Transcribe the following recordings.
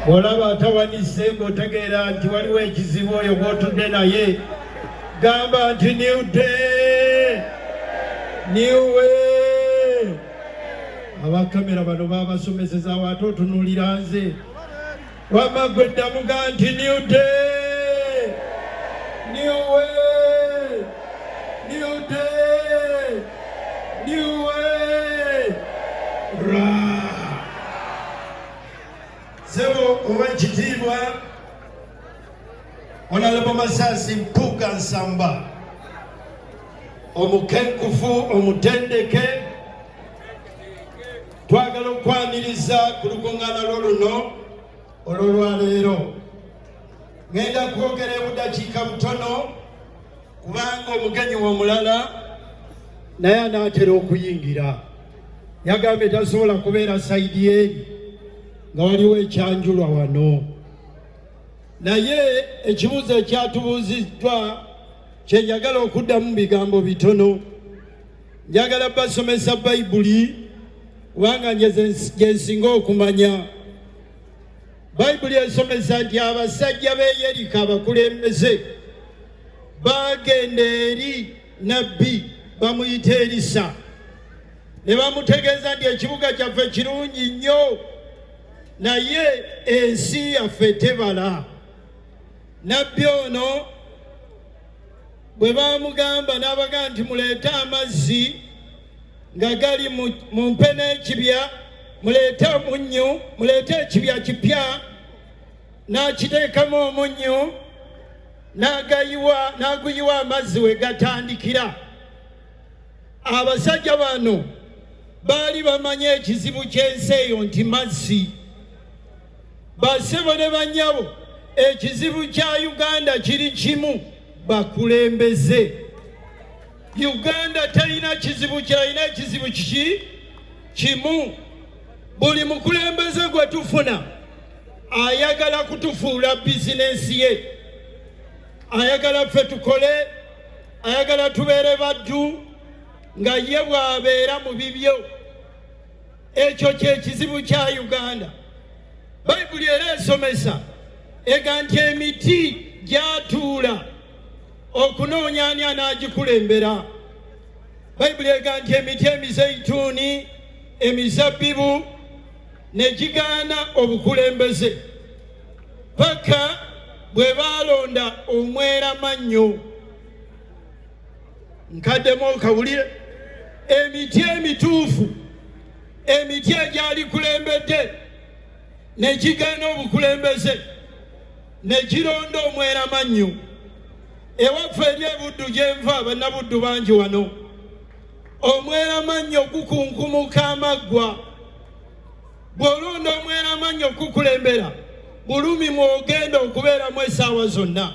bw'olaba atawanise ng'otegeera nti waliwo ekizibu oyo gw'otudde naye gamba nti new day new way abakamera bano baabasomesezaawo ate otunuulira nze wamma gwe ddamuga nti new day new way new day new way Run. Sebo owa kitiibwa Onalebo Masasi Mpuuga Nsamba omukenkufu omutendeke twagala okwaniriza ku lukuŋŋaana lwo luno olwolwaleero ŋenda kwogera ebudakiika butono kubanga omugenyi womulala naye anaatera okuyingira yagambye tasobola kubeera saidi eri nga waliwo ekyanjulwa wano naye ekibuuzo ekyatubuuziddwa kyenjagala okuddamu bigambo bitono njagala basomesa bayibuli kubanga gyensinga okumanya bayibuli esomesa nti abasajja beyerika abakulembeze baagenda eri nabbi bamuyita erisa ne bamutegeeza nti ekibuga kyaffe kirungi nnyo naye ensi yaffe tebala nabbi ono bwe baamugamba n'abaga nti muleete amazzi nga gali mu mpe n'ekibya muleete omunnyu muleete ekibya kipya n'akiteekamu omunnyu n'aguyiwa amazzi we gatandikira abasajja bano baali bamanyi ekizibu ky'ensi eyo nti mazzi basebo ne banyabo ekizibu kya uganda kiri kimu bakulembeze uganda talina kizibu kyalina ekizibu kiki kimu buli mukulembeze gwe tufuna ayagala kutufuula bizinensi ye ayagala ffe tukole ayagala tubeere baddu nga ye bw'abeera mu bibyo ekyo kyekizibu kya uganda bayibuli era esomesa ega nti emiti gyatuula okunoonya ani anaagikulembera bayibuli ega nti emiti emizeituuni emizabbibu ne gigaana obukulembeze paka bwe baalonda omweramannyo nkaddemu okawulire emiti emituufu emiti egyalikulembedde ne gigaana obukulembeze ne gironda omweramannyo ewaffe eri ebuddu gyenva bannabuddu bangi wano omweramannyo gukunkumuka amaggwa bw'olonda omweramannyo okukukulembera bulumi mw'ogenda okubeeramu essaawa zonna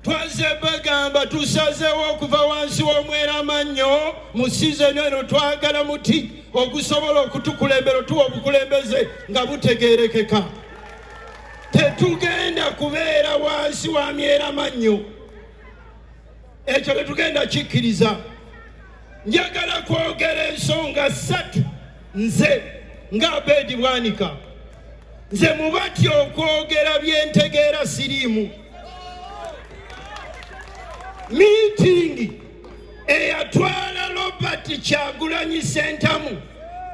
twazze bagamba tusazeewo okuva wansi w'omweramannyo mu sizoni eno twagala muti ogusobola okutukulembera otuwa obukulembeze nga butegeerekeka tetugenda kubeera wansi wa myeramannyo ekyo tetugenda kikkiriza njagala kwogera ensonga ssatu nze nga abeedi bwanika nze mubati okwogera byentegeera siriimu miitingi eyatwala robert kyagulanyi sentamu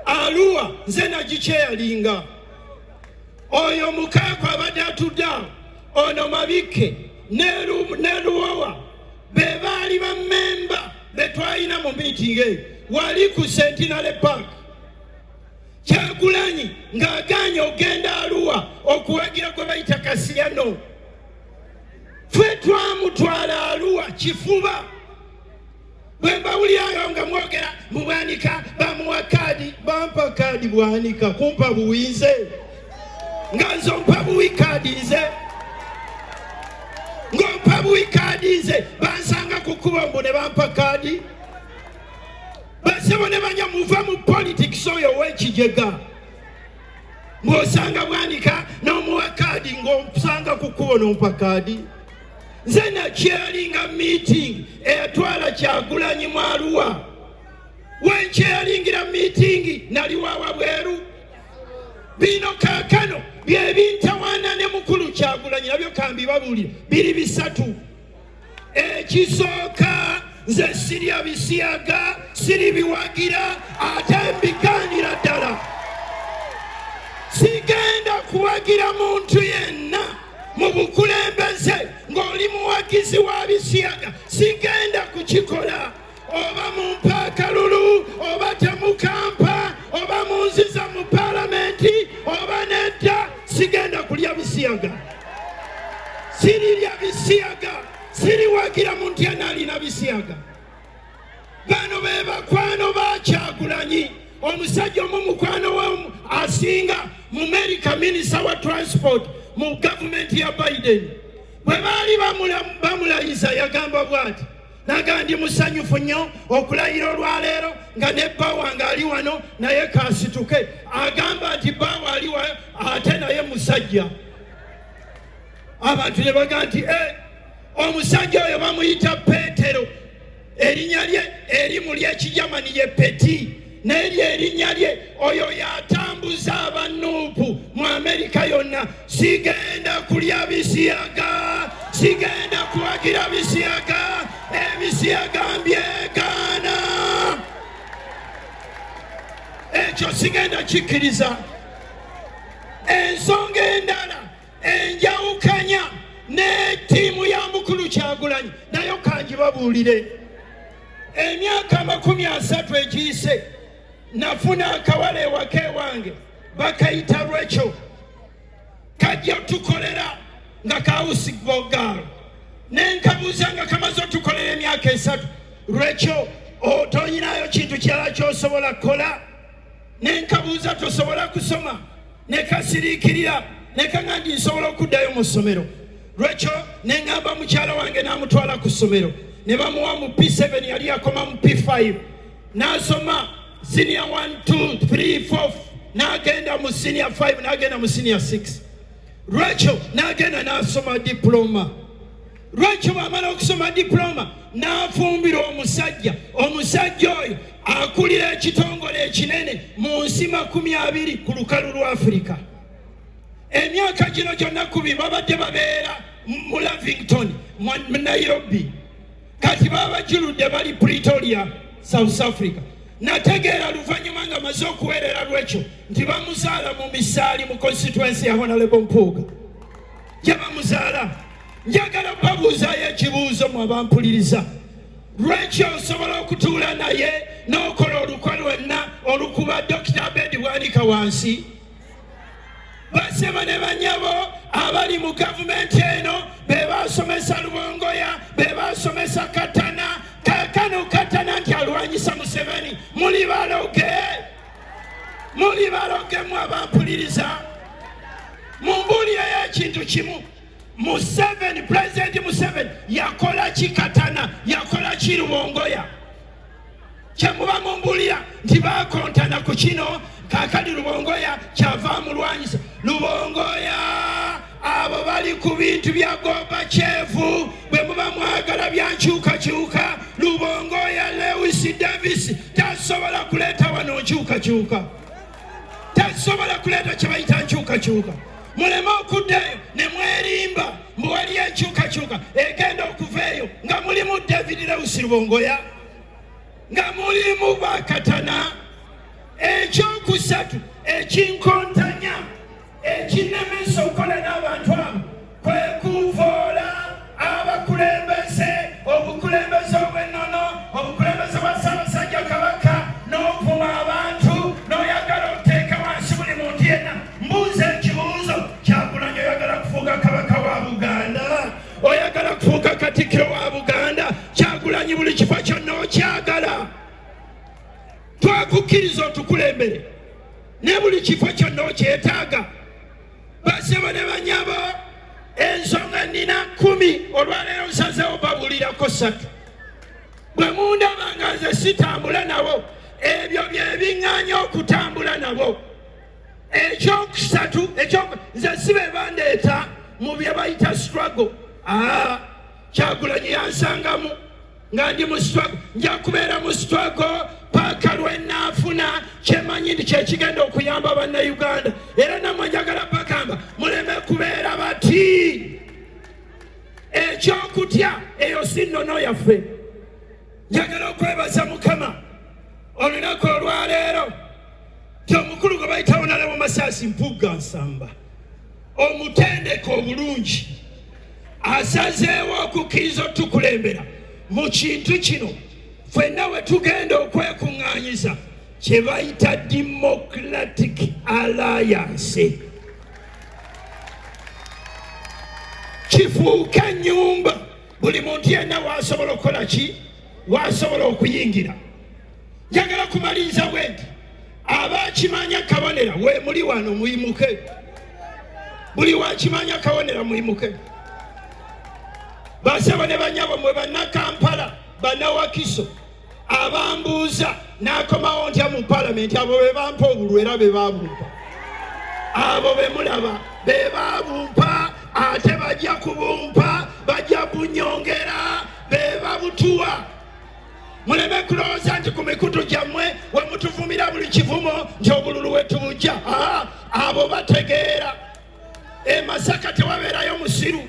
aluwa nze nagikyeyalinga oyo mukaako abadde atudde awo ono mabikke neluwawa be baali bamemba betwalina mu miitingi eyo wali ku sentinale park kyagulanyi ng'agaanye ogenda aluwa okuwagira gwe bayita kasiyano fwe twamutwala aluwa kifuba bwe mbawulyayo nga mwogera mu bwanika bamuwa kaadi bampa kaadi bwanika kumpa buwize nga nze ompa buwi kaadi nze ng'ompa buwi kaadi nze bansanga ku kkubo mbu ne bampa kaadi basebo ne banya muva mu politics oyo ow'ekijega mwosanga bwanika n'omuwa kaadi ng'omusanga ku kkubo n'ompa kaadi nze nakyeyalinga meeting eyatwala kyagulanyi mwaluwa wenkyeyalingira meeting naliwawa bweru bino kakano byebintawana ne mukulu kyagulanyi nabyo kambibabulire biri bisatu ekisooka nze sirya bisiyaga siri biwagira ate mbiganira ddala sigenda kuwagira muntu yenna mu bukulembeze ng'oli muwagizi wa bisiyaga sigenda kukikola oba mu mpaakalulu oba temukampa oba munziza mu palamenti oba nedda sigenda kulya bisiyaga sirirya bisiyaga siriwagira muntu yena alina bisiyaga bano be bakwano bakyagulanyi omusajja omu mukwano we asinga mu merika minisita wa transport mu gavumenti ya biden bwe baali bamulayiza yagamba bwati naga ndi musanyufu nnyo okulayira olwaleero nga ne bba wange ali wano naye kasituke agamba nti bba waali ate naye musajja abantu ne baga nti eh, omusajja oyo bamuyita peetero erinnya lye erimu lyekijamani ye peti naye lyerinnya lye oyo yatambuza abanuupu mu amerika yonna sigenda kulya bisiyaga sigenda kuwagira bisiyaga ebisiyaga mbyegaana ekyo sigenda kikkiriza ensonga endala enjawukanya ne ttiimu ya mukulu kyagulanyi nayo kangibabuulire emyaka amakumi asatu egiyise nafuna akawala ewaka ewange bakayita lwekyo kajja tukolera nga kawusi bogaalo nenkabuuza nga kamaze otukolera emyaka esatu lwekyo otonyinayo kintu kirala kyosobola kukola nenkabuuza tosobola kusoma ne kasiriikirira ne kaŋa nti nsobola okuddayo mu ssomero lwekyo ne ŋŋamba mukyala wange n'amutwala ku ssomero ne bamuwa mu p7 yali yakoma mu p5 n'asoma siniya 1234 n'agenda mu siniya 5 n'agenda mu siniya 6 lwekyo n'agenda n'asoma diploma lwaki bwamala okusoma diploma n'afumbira omusajja omusajja oyo akulira ekitongole ekinene mu nsi makumi abiri ku lukalu lwa afirika emyaka gino gyonna kubi babadde babeera mu lavington mu nairobi kati babajuludde bali pretoria south africa nategeera luvannyuma nga maze okuweerera lwekyo nti bamuzaala mu misaali mu constituensi ya honalebo mpuuga gye bamuzaala njagala babuuzaayo ekibuuzo mwe abampuliriza lwaki osobola okutuula naye n'okola olukwe lwenna olukuba dokita abedi bwanika wansi basema ne banyabo abali mu gavumenti eno be basomesa lubongoya be basomesa katana kakano katana nti alwanyisa museveni muli baloge muli balogemu abampuliriza mumbuulireyo ekintu kimu museveni pulezidenti museveni yakola ki katana yakola ki lubongoya kyemuba mumbuulira nti bakontana ku kino kakali lubongoya kyava mulwanyisa lubongoya abo bali ku bintu bya Gorbachev bwe muba mwagala byankyukakyuka lubongo ya Lewis Davis tasobola kuleeta wano nkyukakyuka tasobola kuleeta kye bayita nkyukakyuka muleme okuddayo ne mwerimba mbu wali enkyukakyuka egenda okuva eyo nga mulimu David Lewis lubongoya nga mulimu bakatana ekyokusatu ekinkonta ekinnemesa okukola n'abantu abo kwe kuvoola abakulembeze obukulembeze obw'ennono obukulembeze bwa ssaabasajja kabaka n'ovuma abantu n'oyagala oteeka wansi buli muntu yenna mbuuza ekibuuzo kyakulanya oyagala kufuuka kabaka wa buganda oyagala kufuuka katikkiro wa buganda kyagulanyi buli kifo kyonna okyagala twakukkiriza otukulembere ne buli kifo kyonna okyetaaga basebo ne banyabo ensonga nina kumi olwaleero nsazewo babulirako satu bwe mundaba nga nze sitambula nabo ebyo byebiŋŋanya okutambula nabo ekyokusatu nze si be bandeeta mu bye bayita struggle aa ah, kyagulanyi yansangamu nga ndi mu struggle nja kubeera mu struggle paaka lwenaafuna kyemanyi nti kyekigenda okuyamba bannayuganda era namwe njagala bagamba muleme kubeera bati ekyokutya eyo si nnono yaffe njagala okwebaza mukama olunaku olwaleero ti omukulu gwe bayitawo nalaba masasi mpugga nsamba omutendeke obulungi asazeewo okukkiriza otukulembera mu kintu kino fenna we tugenda okwekuŋŋaanyiza kye bayita democratic alliance kifuuke ennyumba buli muntu yenna waasobola okukola ki waasobola okuyingira njagala kumaliriza bwendi abakimanya kabonera we muli wano muyimuke buli wakimanya kabonera muyimuke basebo ne banyabo mwe bannakampala bannawakiso abambuuza nakomawo ntya mu palamenti abo be bampa obulwa era be babumpa abo be mulaba be babumpa ate bajja kubumpa bajja kunyongera be babutuwa muleme kulowooza nti ku mikutu gyammwe we mutuvumira buli kivumo nti obululu we tubujja aa abo bategeera e masaka tewabeerayo musiru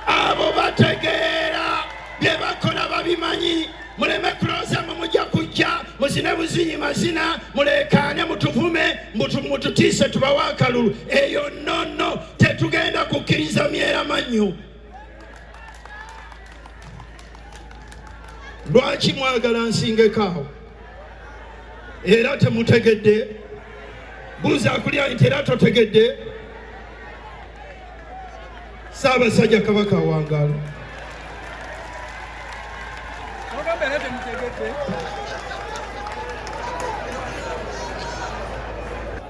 abo bategeera bye bakola babimanyi muleme kulowooza mwe mujja kujja muzine buzinyi mazina muleekaane mutuvume mututiise tubawa akalulu eyo nono tetugenda kukkiriza myera mannyu lwaki mwagala nsingeko awo era temutegedde buuza akulya nti era totegedde saabasajja kabaka awangaalo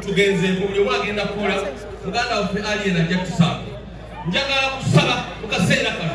tugenze mubuli omu agenda kukola muganda waffe aliyena ajja tusanga njagala kusaba mu kaseera kano